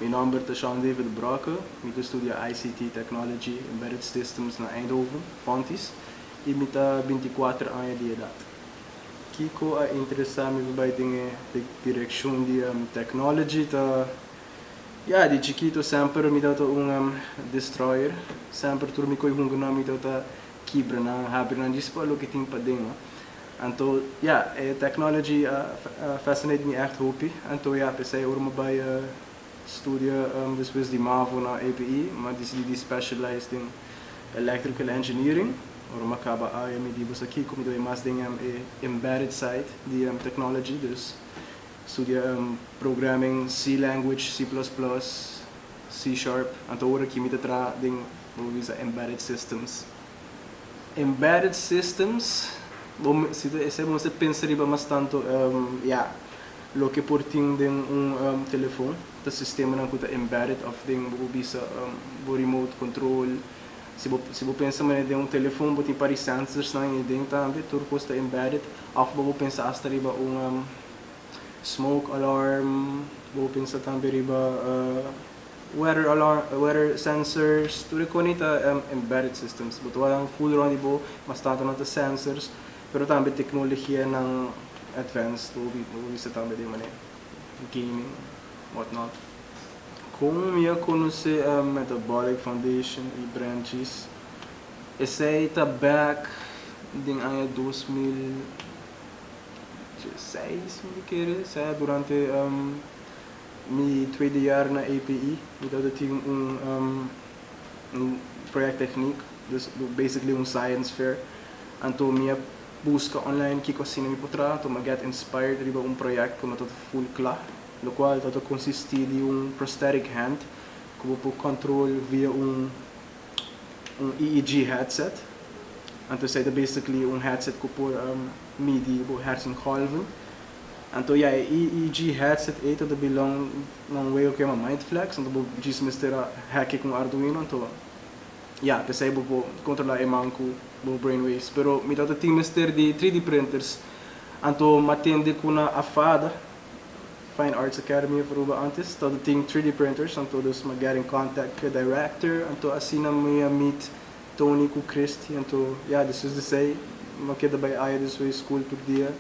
Mi nòmber ta Shawn David Brokke. Mi ta studia ICT, Technology, Embedded Systems na Eindhoven, Fontys, i mi ta binti i kuater aña di edat. Kiko a interesá mi pa bai den e direkshon di mi? Technology ta Ya, di chikito semper mi tabata un destroyer. Semper tur mi koe hungernan mi tabata kibra nan, habri nan djis pa loke tin paden. Anto ya, e technology a fascinate mi echt hopi. Anto ya, p'esei ora mi bai studia despues di mavo na APE, mi a decidi di specialize den electrical engineering. Ora mi a caba aia mi di boso aki cu mi ta bai mas den e embedded side di technology. Dus Studia programming C language, C plus plus, C sharp. Anto ora aki mi ta traha den bo por bisa embedded systems. Embedded systems bo esei bo mester pensa riba mas tantu ya loke por tin den un telefon ta sistemanan ku ta embedded òf den bo por bisa bo remote control. Si bo pensa manera den un telefon bo tin pari sensorsnan i den tambe tur kos ta embedded òf bo por pensa asta riba un. smoke alarm, bo pensa tambe riba weather alarm, weather sensors, tur e koni ta embedded systems, bo ta wak nan full rond di bo, mas tantu nan ta sensors, pero tambe teknologianan advanced, bo bo bisa tambe den manera, gaming, what not. Kon mi a konosé Metabolic Foundation i Branchis, esei ta back den aña dos mil. Seis mukeres sa durante mi tuede jaar na APE mi tabata tin un project techniek, dus basically un science fair. Anto mi a buska online kico asina mi por traha, anto mi a get inspired riba un project cu no tabata full cla, locual tabata consisti di un prosthetic hand cu bo por control via un EEG headset. Anto esey ta basically un headset cu por. midi bo hersengolven. Anto ya e EEG headset ei ta belong na un weo cu yama MindFlex, anto bo djis mester a hack e cu un Arduino, anto ya, pesey bo por controla e man cu bo brain waves. Pero mi tata tin mester di 3D printers, anto m'atende cu na AFADA, Fine Arts Academy of Aruba antes, tata tin 3D printers, anto dus m'a get in contact cu e director, anto asina mi a meet. Tony ku Christy anto ya desues di esei no keda bai aya den su high school tur dia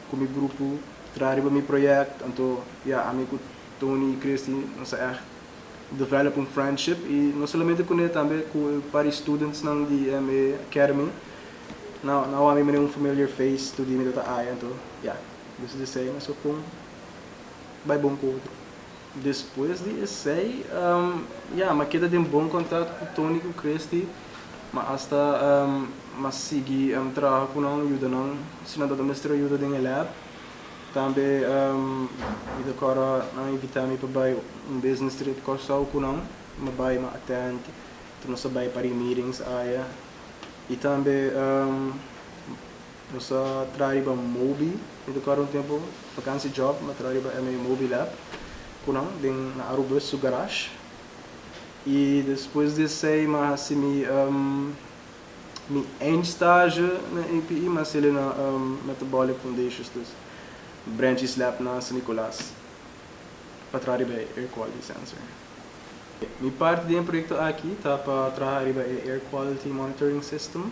ku mi grupo traha riba mi proyekt. Anto ya ami ku Tony i Christy nos a ègt develop un friendship i no solamente kuné tambe ku e par di studentsnan di MA Academy. Nau ami mira un familiar face tur dia mi tabata aya anto ya desues di esei nos a kon bai bon ku otro. Despues di esei, ya, m'a keda den bon kontat ku Tony ku Christy, m'a asta m'a sigui traha ku nan, yuda nan si nan ta ta mester yuda den e lab. Tambe mi ta kòrda nan a invitá mi pa bai un business trip Kòrsou ku nan, m'a bai m'a attend tur nos a bai pari meetings aya i tambe. Nos a traha riba Mobi Educar un tempo vakansi job mi a traha riba MA Mobi Lab ku nan den na Arubus su garash i despues di esei mi a hasi mi mi eindstazje na APE mi a seli na Metabolic Foundations dus Branch East Lab na San Nicolas pa traha riba e Air Quality Sensor. Mi parti den e proyekto aki ta pa traha riba e Air Quality Monitoring System.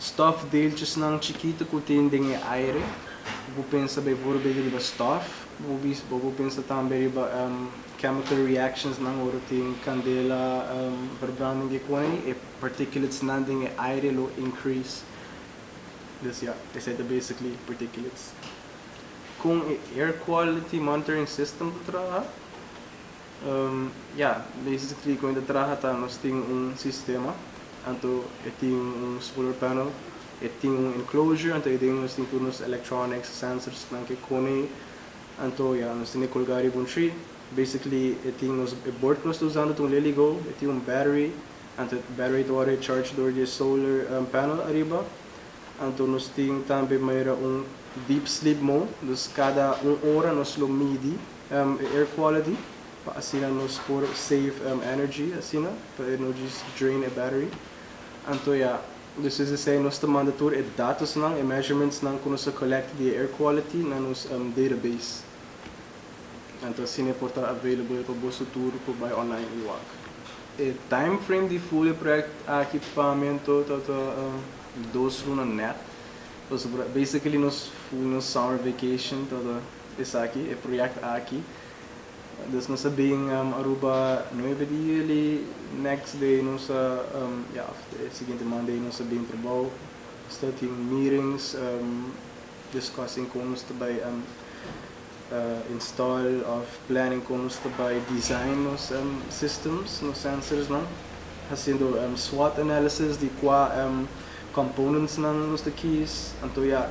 Stof deeltjesnan chikitu ku tin den e aire, bo por pensa bay por bay riba stof, bo por pensa tambe riba chemical reactionsnan ora tin candela verbranding ke kona ay, e particulatenan den e aire lo increase. Dus ya, esay ta basically particulates. Kon e air quality monitoring system ta traha? Ya, Daisy ta trigi kointa traha ta nos tin un sistema anto e tin un solar panel e tin un enclosure anto ei den nos tin tur nos electronics sensors nan ke kone anto ya nos tin e colga riba un tree basically e tin nos e bord ku nos ta usando ta un leligo e tin un battery anto e battery ta wòrdu recharge dor di e solar panel ariba anto nos tin tambe manera un deep sleep mode dus kada un ora nos lo midi. e air quality pa asina nos por save energy asina pa e no djis drain e battery anto ya despues di esei nos ta manda tur e datosnan e measurementsnan ku nos a collect di e air quality na nos database anto asina e por ta available pa boso tur ku bai online i wak. E time frame di fuli e project aki pa mi anto tabata dos luna net pasobra basically nos fuli nos summer vacation tabata. Esaki e proyekt aki. Dus nos a bin Aruba nuebe di juli, next day nos a, ya of e siguiente Monday nos a bin trabou. Nos ta tin meetings discussing kon nos ta bai install of planning kon nos ta bai design nos systems, nos sensorsnan. Haciendo swot analysis di kua componentsnan nos ta kies. Anto ya.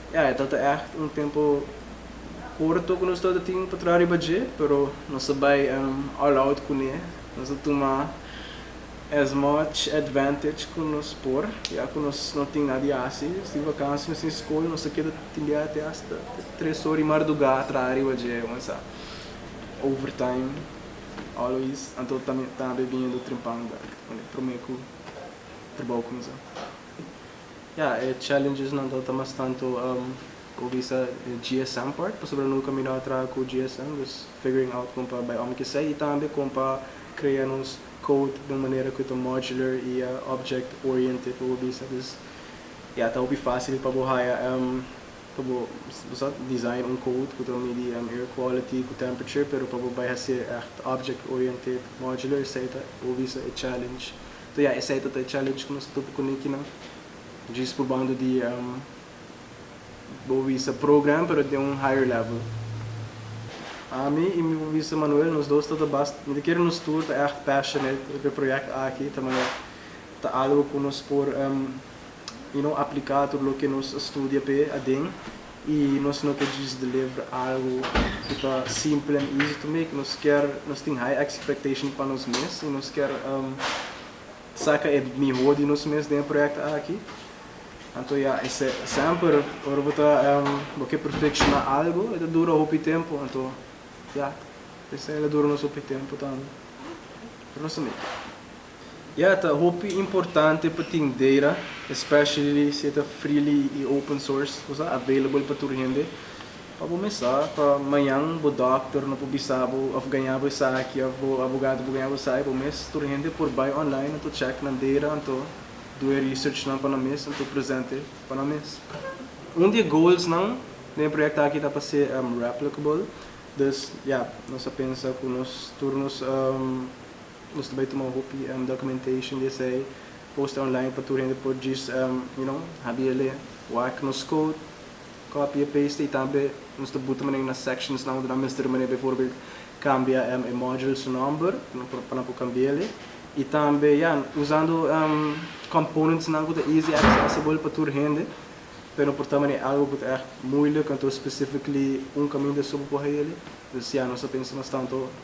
Ya, e tabata ègt un tempu korto ku nos tabata tin pa traha riba dje, pero nos a bai all out kuné. Nos a tuma as much advantage ku nos por, ya ku nos no tin nada di hasi. Nos tin vakansia, nos tin skol, nos a keda tin bia te hasta tres ora di mardugá traha riba dje, bo sa, overtime always. Anto tambe biniendo Trimpanda, promé ku trabou kuminsá. Ya, e challengesnan ta ta mas tantu ku bisa e GSM part, pasobra no nunka mira a traha ku GSM, dus figuring out kon pa bai òm ki esei i tambe kon pa krea nos code den un manera ku ta modular i object oriented pa bo bisa. Dus, ya, ta hopi fásil pa bo haya pa bo bo sa design un code ku ta midi air quality ku temperature, pero pa bo bai hasié ègt object oriented, modular esei ta bo bisa e challenge To ya esei ta ta e challenge ku nos ta topa kuné kinan djis probando di Boavista Pro Gran pero den un higher level. Ami i mi Boavista Manuel nos dos ta ta bast mi ta kere nos tur ta ègt passionate riba e projèkt aki ta manera ta algu ku nos por you know apliká tur loke nos a studia p'e aden. I nos no ta djis di lebra algu ku ta simpel en easy to make. Nos kier, nos tin high expectation pa nos mes i nos kier saka e mihó di nos mes den e proyekto aki. Anto ya, semper ora bo ta bo ke perfekshoná algu e ta dura hopi tempu. Anto ya, esei lo dura nos hopi tempu tambe, pero nos ta make. Ya, ta hopi importante pa tin data, especially si e ta freely i open source, ku ta available pa tur hende, pa bo mesa pa mañan bo dòkter no por bisa bo òf gaña bo esaki òf bo abogado no por gaña bo esaki bo mes. Tur hende por bai online anto chèk nan data anto du e research nan pa nan mes anto present e pa nan mes. Un di e goals nan den e proyekto aki ta pa ser replicable, dus ya nos a pensa ku nos tur nos Nos ta bai tuma hopi documentation di esei, posta online pa tur hende por djis you know habi e lea. Wak nos code, copy e paste y tambe nos ta buta manera na sectionsnan unda nan mester manera bijvoorbeeld cambia e module su nomber pa nan por cambia e lea. Y tambe ya usando componentsnan cu ta easy accessible pa tur hende, pero no por ta manera algo cu ta echt moeilijk, entonces specifically un caminda so bo por hae e lea. Dus ya nos a pensa mas tanto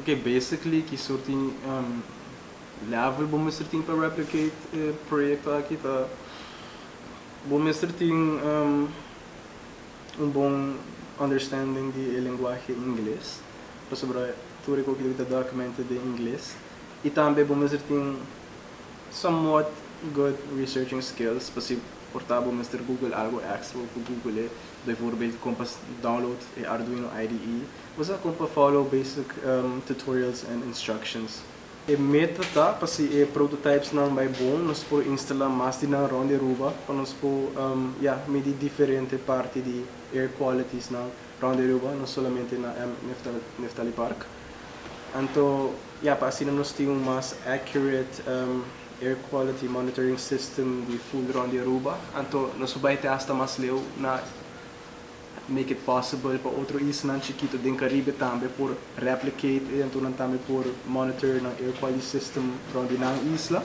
Ok, basically ki soort di level bo mester tin pa replicate e proyecto aki ta bo mester tin un bon understanding di e lenguahe ingles, pasobra tur e kokido aki ta documented den ingles, y tambe bo mester tin somewhat good researching skills, pa si por ta bo mester google algo extra bo por google e. Bijvoorbeeld kon pa download e Arduino IDE, usa kon pa follow basic tutorials en instructions. E meta ta pa si e prototypesnan bai bon nos por instala mas di nan rond di Aruba pa nos por ya midi diferente parti di air qualitysnan rond di Aruba, no solamente na Nephtalypark. Anto ya pa asina nos tin un mas accurate. Air Quality Monitoring System di Fulron di Aruba, anto nos a bai te hasta mas leu, na make it possible pa otro islanan chikito den Caribe tambe por replicate e, anto nan tambe por monitor nan air quality system rond di nan isla.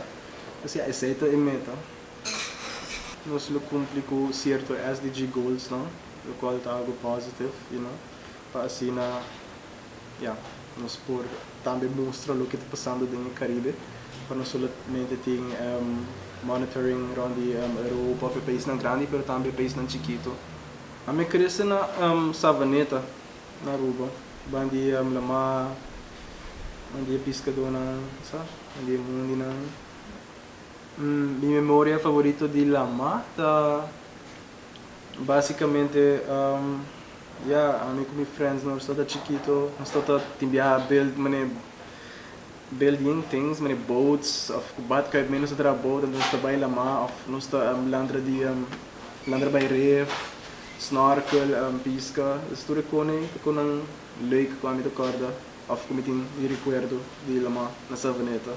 P'esei esei ta e meta. Nos lo cumpli cu cierto SDG goalsnan, locual ta algo positive, you know, pa asina Ya, nos por tambe mustra loke ta pasando den e Caribe, pa no solamente tin monitoring rond di Europa of e paisnan grandi, pero tambe e paisnan chikito. Ami a krese na Savaneta, na Aruba, ban di la mar, ban di e piskadonan, sa, ban di e mundinan. Mi memoria favorito di la mar ta. Básicamente, ya, ami cu mi friends nos ta ta chikito, nos ta ta tin biaha build mane building things, mane boats of cu bat cai nos ta traha boat anto nos ta bai la mar of nos ta lantra di lantra bai reef, snorkel, pisca. Dessa tur e cone ta cu nan leuk cu ami ta corda of cu mi tin di recuerdo di la mar na Savaneta.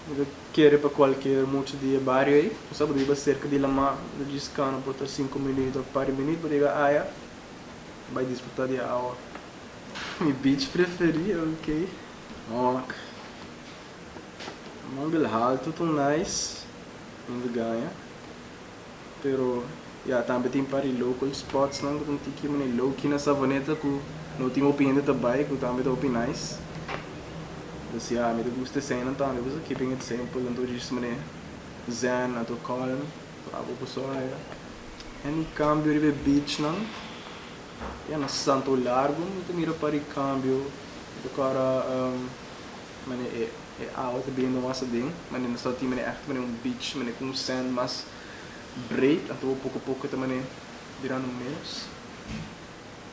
Bo ta kere pa kualkier mucha di e bario ei? Pasá bo ta riba serka di Lamá, bo ta djis kano por ta sinku minüt òf pari minüt bo ta yega aya, bai disfrutá di e awa. Mi beach preferí, ok. Òk. Manbel Haltu ta un nice, mi ta gaña. Pero ya tambe tin par di local spotsnan ku tin tiki manera low key na Savaneta ku no tin hopi hende ta bai ku tambe ta hopi nice. Pues ya mi ta gusta eseinan tambe pues a keeping it simple anto djis manera zen anto calm so a poco sol aja. Any cambio riba e beachnan? Ya na Santo Largo mi ta mira par di cambio mi ta cora. Mane e awa ta bini mas aden, mane nos ta tin mane èkte mane un beach, mane ku un sand mas breed, anto bo poko poko ta mane birando menos.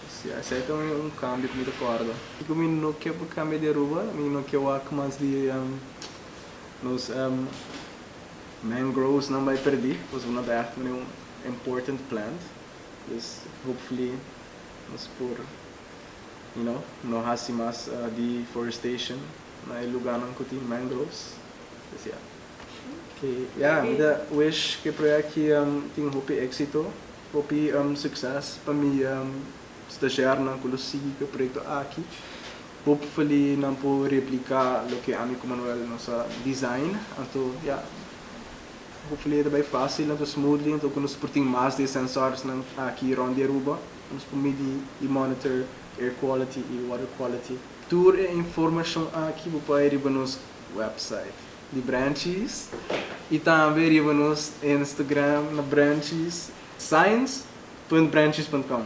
Sia, esei ta mane un kambio ku mi ta kòrda. Di ku mi no ke pa kambia di Aruba, mi no ke wak mas di nos mangroesnan bai pèrdí, pasobra nan ta èkte mane un important plant. Dus, hopefully nos por you know, no hasi mas deforestation na e luganan ku tin mangroves. Pues ya. Ke ya, mi ta wish ku e project aki tin hopi éksito, hopi sukses. Pa mi stagiairnan ku lo sigui ku e proyekto aki, hopefully nan por repliká loke ami ku Manuel nos a design. Anto ya, hopefully e ta bai fásil, anto smoothly, anto ku nos por tin mas di e sensòrsnan aki rònt di Aruba. Nos por midi y monitor air quality y water quality. Tur e informacion aki bo bay riba nos website di Branchies y tambe riba nos Instagram na Branchies science punt branchies punt com.